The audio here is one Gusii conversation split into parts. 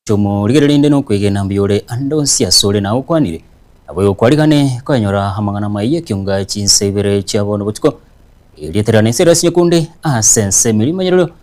Tomorigererinde nokwegena mbiore ande onsi asore na agokwanire, na boigo kwarigane koyanyora amang'ana amaya ekiunga chinsa ibere chia bono botuko, erio riatererane ense ere ase nyokunde ase ense emerimo y'eriorio,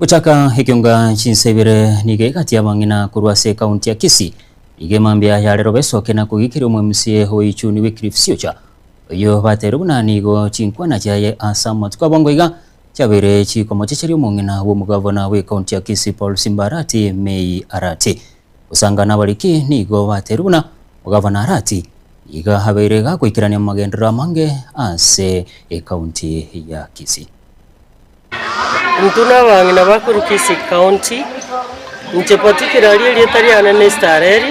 Gochaka ekionga chinsa ibere nigo egati y'abang'ina korwa ase ekaunti ya Kisii nigo emambia yare robe esoke na kogikiria omwemusie oichuni Wycliffe Siocha oyio bateirwe buna nigo chinkwana chiaye ase amatuko abongo iga chiabeire chikomochecheria omong'ina bw'omogavana bw'ekaunti ya Kisii Paul Simba Arati Mei Arati. Gosanga nabariki nigo bateirwe buna omogavana Arati nigo abeire iga agoikerania amagenderero amange ase ekaunti ya Kisii. Intwe nabang'ina ba korwa Kisii County, inche particularly erieta riane na Esther Eri,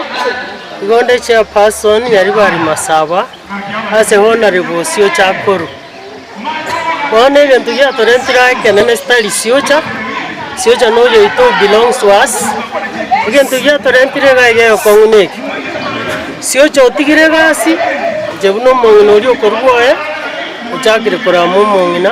igo nde chairperson Nyaribari Masaba ase honarebo osiocha akorwa. Bono egento giatorentire aa ekenene tari siocha, siocha na oyo oito who belongs to us, egento giatorentire iga iga egokong'u na eke, siocha otigire egasi, inche buna omong'ina oria okorwa oye, ochakire korama omong'ina.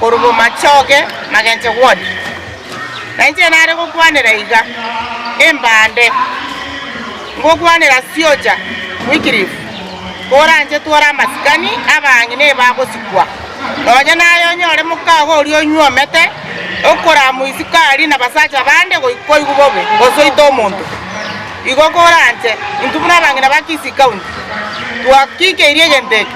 korwa bomachoge magenche gwonsi, na inche nare gokwanera iga, Embande, ngokwanera Siocha Wycliffe, koranchetwe ore amasikani abang'e neba agosikwa, nonya naye onyore mokago oria onywomete okoramwa isukari na basacha bande goika koigwa bobe gose oite omonto. Igo koranche, intwe buna abang'ina ba Kisii County, twakikeirie egento eke.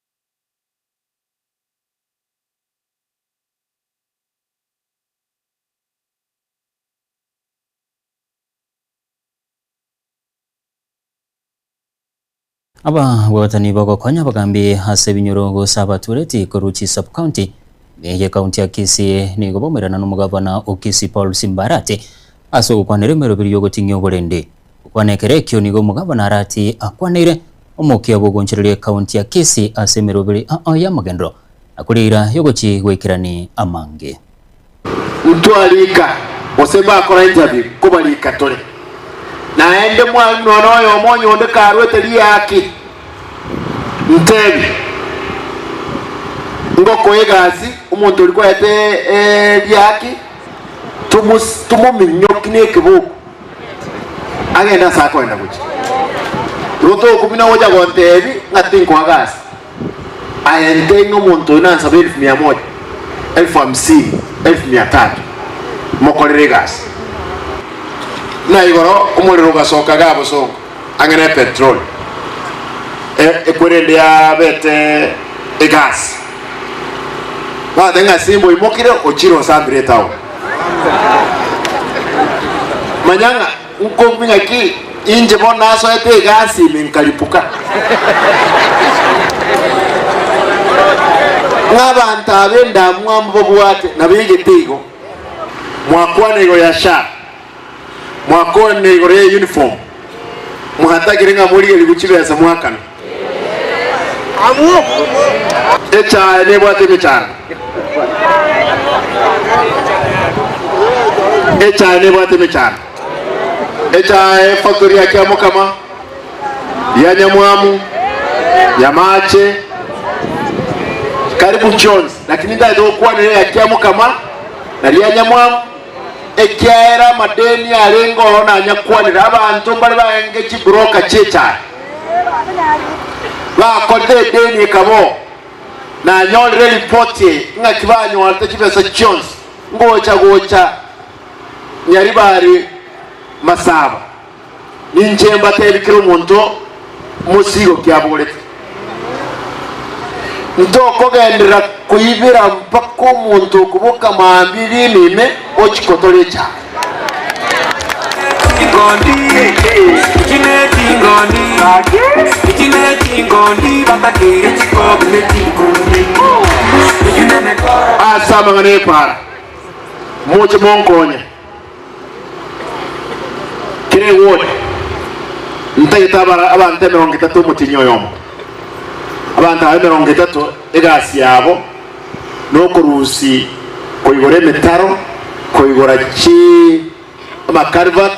Ababwatani b'ogokonya bogambi ase ebinyoro gose abatureti korwa chi sub county ne ye county ya Kisii nigo baumerana nomogavana o Kisii Paul Simbarati ase ogokwanera emeroberio y'ogoting'ia oborende. Gokwana ekero ekio nigo omogabana Arati akwaneire omokia bw'ogoonchoreria ekaunti ya Kisii ase emeroberi ao y'amagenderero na kore eira y'ogochia goikerania amange. Intwa rika gose bakora interview koba rika tore naende mwalimu nonya noyomo onye onde karwete riaki ntebi ngokoa egasi omonto oria kwarete riaki tomominyoki nekeboko. agende ase akoenda gochia. Rotooku buna ogocha gontebi ng'a tinkoa gasi aye ntei ng'a omonto oyo nansabe elfu mia moja, elfu hamsini, elfu mia tatu mokorere egasi. Buna igoro omorero ogasoka Gabosongo. ang'e nepetroli ekwe rende yabete egasi, bagoteba ng'a ase imbe oimokire ochire osambire etaoni. Manya ng'a nkobi ng'aki inche bono nasoete egasi ime nkaripuka. Ng'a abanto aba endamwamu babwate nabo egete igo, mwakwana igoro ya SHA. Mwakwanire igoro ye uniform mwatagire ng'a morigerigwe chibesa mwakana. Echae nebwate emechando. Echae nebwate emechando. Echae efactory ya Kiamokama, ya Nyamwamu, Nyamache, karibu chionsi lakini ntagete gokwanera eya Kiamokama na ria Nyamwamu ekiagera amadeni arenge oo nanyakwanire. Abanto mbare baenge chiburoka chi'echaye bakorire edeni ekaba oo. Nanyorire eripoti eye, ng'aki banyorete chibesa chionsi ngocha gocha nyaribari masaba. Ninche mbateebie kera omonto omosigo kiabogorete, ntokogenderera koibera mpaka omonto okoboka mambia ebiina ime ochiko tore echaaka. Ase amang'ana y'epaara, moche monkonye. Kera egori ntagete abara abanto emerongo etato omotienyi oyomo, abanto aba emerongo etato egasi yabo nokorusi koigora emetaro, koigora chi amaculvert,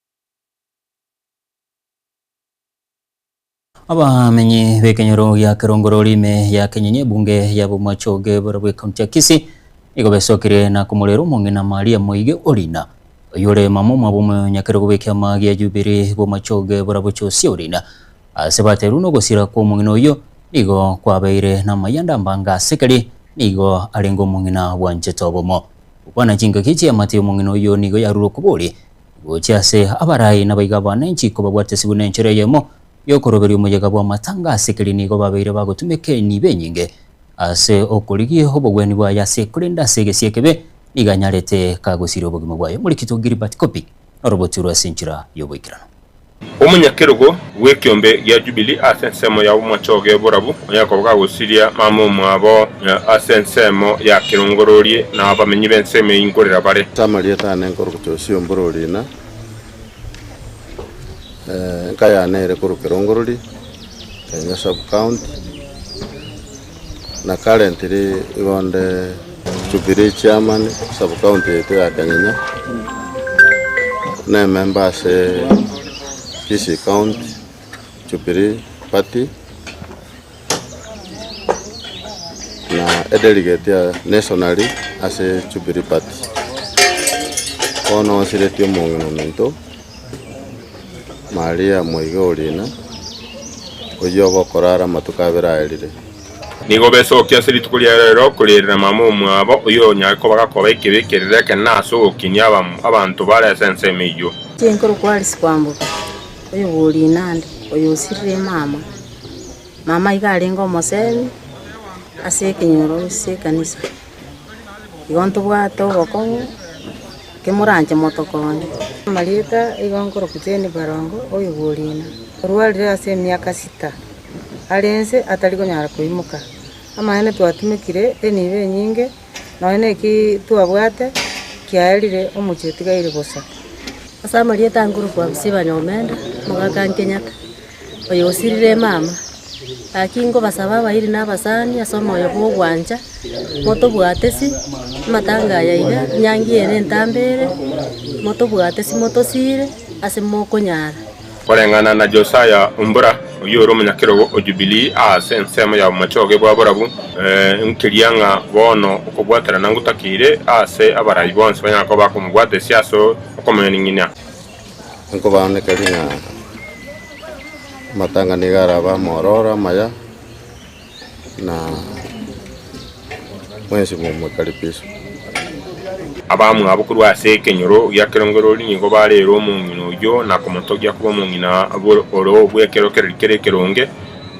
Abamenyi b'ekenyoro gia Kerongorori ime ya Kenyonyi ebunge ya Bomachoge borobwo ekaunti ya Kisii nigo besokire na komorera omong'ina Maria Moige Orina oyore mama omwabo omonyakerogo bw'ekiama gia Jubilee Bomachoge borobwo Josia Orina ase baterwa nogosira kw'omong'ina oyio nigo kwabeire namayanda mbanga ase keri nigo arenge omong'ina bwanchete obomo. Gokwana chingaki chi'eamate y'omong'ina oyio nigo yarure okobori gochia ase abarai nabaiga abanenchi kobabwatesigwe nenchera eyemo y'okoroberia omoyega bw'amatanga ase keria nigo babeire bagotumeka enibo enyinge ase okorigia obogwenu bwaye ase korende ase egesie ekebe nigo anyarete kagosiria obogima bwaye. Omoreketo Gilbert Kopi norobotwe rwase enchera y'oboikeranu. Omonyakerogo bw'ekeombe gia Jubili ase ensemo yabo mwachoge oborabu, onye akoba gagosiria mama omwabo ase ensemo ya kerongororie, na abamenyi b'ensemo eyio nkorera bare. Ase amarieta aane nkorokia ose omborori, na enka yaane ere korwa kerongorori kia Nyasabukaunti. na karentire igonde Jubilee Chairman sub county yaito ya Kanyanya, ne member ase Kisii county Jubilee party, na edeligeti ya nationally ase Jubilee party. Bono osiretie omong'ina ominto. Mariamu oiga orina, oyio obe okorara amatuko abere aerire. Nigo besokia ase rituko ria reero korierera mama omwabo, oyio onyare koba gakoba ekibe ekerere ekenene na ase ogokinia abam- abanto bare ase ensemo eyio. Chinkoro kwarisia kwamboka, oyo bw'orina ande, oyo osirire mama. Mama iga arenge omosemi ase ekenyoro ase ekanisa. igo ntobwate obokong'u kemoranche motokonye. Amarieta igo nkorokwa Jane Barongo oigurine, orwarire ase emiaka sita, are ense atari konyara koimoka. Amang'ana twatumekire enibo enyinge nonya na eki twabwate kiaerire omochie otigaire bosa. Ase amarieta nkorokwa Abisibanyo Omenda, omogaka Nkenyata. oyo osirire emama. Gaki nkobasaba abairi na abasani ase omoyo bw'ogwancha, motobwatesi amatanga aya iga, enyangi eye na entambe ere, motobwatesi motosiire ase mokonyara. Koreng'ana na Josiah Ombura, oyio ore omonyakerogo o Jubilee aase ensemo ya omochoge bwa borabu, nkiria ng'a bono okobwaterana ngotakeire aase abarai bonsi banyara koba bakomobwatesia ase okomonyaning'inia. Nkobaaneka ring'ana, amatanga nigo arabe amororo amaya, na mwensi momokaribishe. Abamwabo korwa ase ekenyoro gia kerongererio nigo bareere omong'ina oyio na komotogia koba omong'ina ore bw'ekero keria kere ekeronge,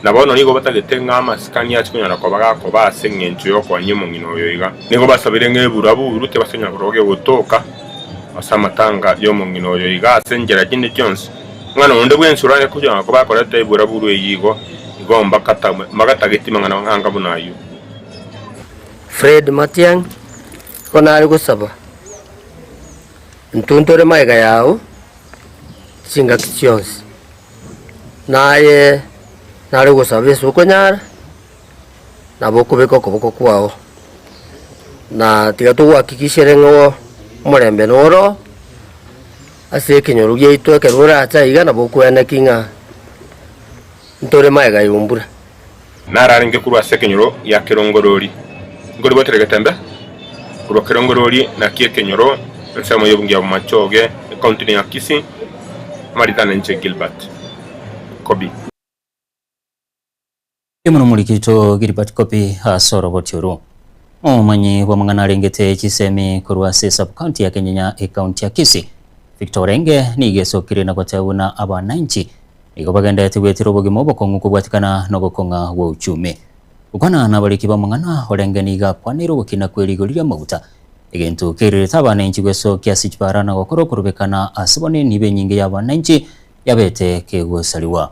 na bono nigo batagete ng'a amasikani aase konyara koba gakoba ase engencho y'okoania omong'ina oyo iga. Nigo basabire ng'a ebura buru tibase konyara korogwa gegotoka. Ase amatanga y'omong'ina oyo iga ase enchera chinde chionsi, omwana onde bw'ensoro aye kochanga koba akoreta eburaburu eyio igo, igo mbakatamwe, mbagatageti mang'ana anga buna ayio. Fred Matiang'i, Igo nare gosaba ntuntore magega yao chingaki chionsi, naye nare gosaba ase okonyara. nabo okobeke okoboko kwao, na tiga togohakikishere ng'a o- omorembe noro ase ekenyoro giaito ekero orache aiga nabo okweene ki ng'a ntore magega yombura. Nararenge korwa ase ekenyoro gia kerongorori, nkoribotere getembe korwa kerongorori na kia ekenyoro ensemo y'obonge ya Bomachoge, ekaontini ya Kisii, amaritana inche Gilbert Kobi. Riria moromorigitwe Gilbert Kopi ase oroboti orwo, omomanyi bw'amang'ana arengete chisemi korwa ase Sub-county ya Kenyenya Ecounty ya Kisii, Victor Orenge nigo esokire na goteeba buna abanainchi nigo bagenderete gwetera obogima obokong'u kobwatikana nogokong'a gwa uchumi. Gokwana nabariki bamang'ana, Orenge nigo akwanire ogokina kwe rigori ri'amaguta, egento kerirerete abanainchi gwesokia ase chibara na gokora okorobekana ase bonini b'enyinge y'abanainchi yabete kegosariwa.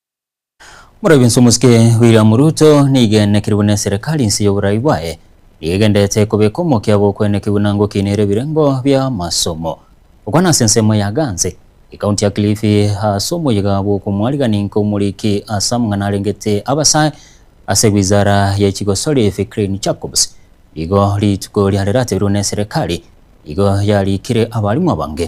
Moraibwa inse omosike William Ruto nigo aenekirwe ne serikali inse y'oborai bwaye nigo egendererete kobeka omokia bw'okoenekigwa na ngokinera ebirengo bi'amasomo. Gokwana ase ensemo ya Ganze, ekaunti ya Kilifi ase omoyiga bw'okomwarigia inka omoriki ase amang'ana arengete abasae ase wizara ye chigosori Fikrine Jacobs nigo rituko riarerateirwe ne serikali nigo yarikire abarimu abange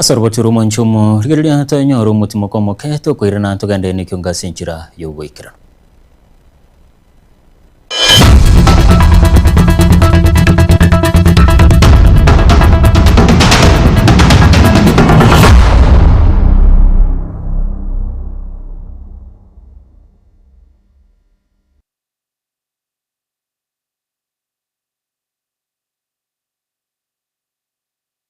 Ase orogocho rw'omwancha omo, rigereria tonyore omotimoko omoke, tokoirana togende nekiunga ase enchera y'ogoikerana.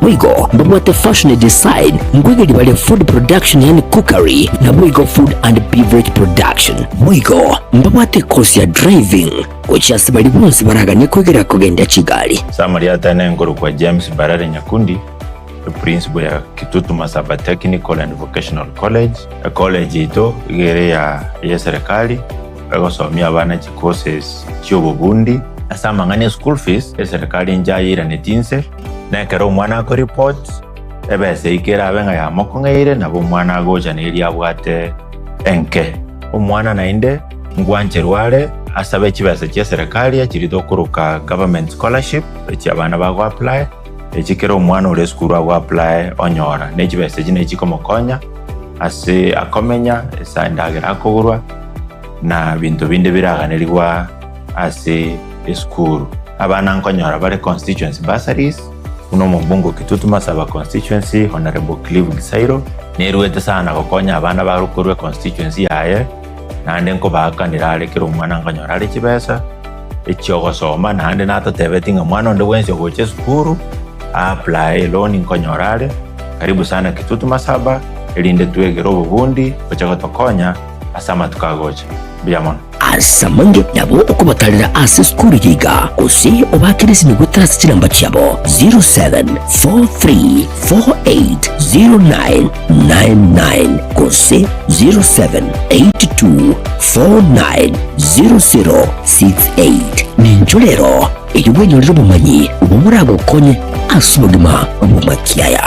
Boigo mbabwate fashion design, nkoigeria bare food production yaani cookery, naboigo food and beverage production. Boigo mbabwate ecourse ya driving, gochia ase baria bonsi baraganie koigera kogenda chigari. Ase amarieta aye nenkorokwa James Barare Nyakundi, eprinciple ya Kitutuma Sub-Technical and Vocational College, ecollege yaito iga ere ya y'eserekari egosomia abana chicourses chi'obobundi. Ase amang'ana ya school fees, eserekari enchayeiranetie inse. Na ekero omwana akoripoti, ebesa eike erabe ng'a yamokong'eire, nabo omwana agocha neria abwate enke. Omwana naende ngwancherwe are asabe chibesa chi'eserekari echiria tokoroka government scholarship, echia abana bago apply, echi kera omwana ore esukuru ago apply onyora, ne chibesa echi ne chikomokonya ase akomenya, ase endagera akogorwa, na binto binde biraganerigwa. ase esukuru. Abana nkonyora bare constituency bursaries buna omombunge o Kitutu Masaba constituency Honourable Clive Gisairo neruete sana gokonya abana barokorwe constituency yaye naende nkobaakanera are kera omwana nkonyora are chibesa echiogosoma naende natotebetie ng'a mwana onde bwensi ogocha esukuru aaplaye loan nkonyora are karibu sana Kitutu Masaba erinde twegere obobundi boche gotokonya ase amatuko agocha. Mbuya mono. Asamanye nabo okobatarera ase esukuru yaiga gose obakeresimie goetera ase chinamba chiabo 0743480999 gose 0782490068. Nincho rero eyio bwenyorire obomanyi obwo moragokonye ase obogima bw'omakiaya.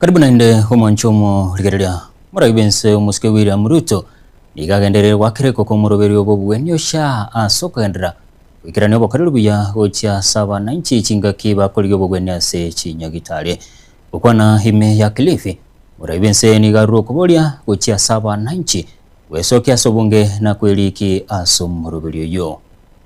Karibu naende omwancho omorigereria. Moraia bwense omosike William Ruto nigo agendereire goakera ekoko omoroberio bw'obueni ocha ase okogenderera goikerania obokoreri buya gochia ase abananchi chingaki bakorigia obobueni ase chinyagitari. Gokwana ime ya Kilifi, moraia bwense nigo arure okoboria gochia ase abananchi gwesokia ase obonge na kwerikia ase omoroberio oyio.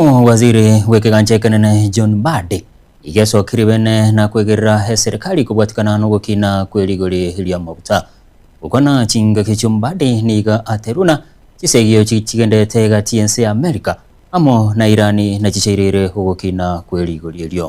Omowaziri bw'ekegancha ekenene John Mbadi iga esokirie bene na kwegerera eserekari kobwatikana nogokina kwe rigori ri'amaguta. Gokwana chingaki chio Mbadi niga aterwe na chisegio chigenderete egati y'ense ya Amerika amo na Irani nachichairire ogokina kwe rigori erio.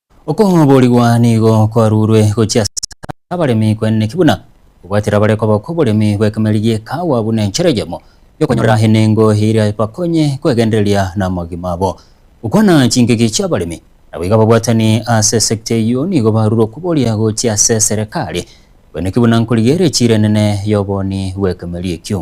Okoborigwa nigo kwarurwe gochia ase abaremi kweneneki buna obwatire abare koba kw'oboremi bw'ekemeri gie kaawa buna enchera eyemo y'okonyorera enengo eria ebakonye kwegendereria namagima abo. Gokwana chingigi chi'abaremi naboigo ababwatani ase sector eyio nigo barurwe okoboria gochia ase eserekari kweneneki buna nkorigereria chire enene y'oboni bw'ekemeri ekio.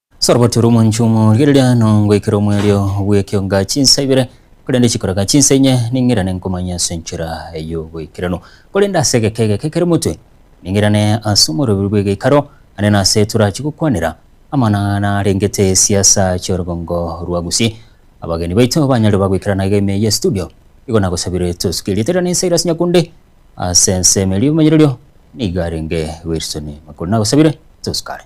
Soroboti rw'omonchie omo rigereria nongoikere omwerio bw'ekeonga chinsa ibere, korende chikoreka chinsa inye ning'irane nkomanye ase enchera y'oboikeranu. Korende ase egeka egeke kere motwe, ning'irane ase omoroberu bw'egeikaro, naende nase torachie gokwanera amang'ana arengete esiasa chi'orogongo rwa Gusii. Abageni baito banyarire bagoikerana iga ime ye studio, nigo nagosabire tosuke erieta riane Silas Nyakundi ase ensemo eria y'omomanyererio, nigo arenge Wilson Makori. Nagosabire tosukare.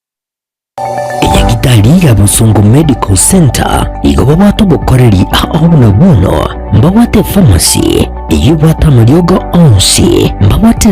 Enyagitari ya Busungu Medical Centre igo babwate obokoreri ao buna bono, mbabwate efamasi eywo ebwate amariogo onsi, mbabwate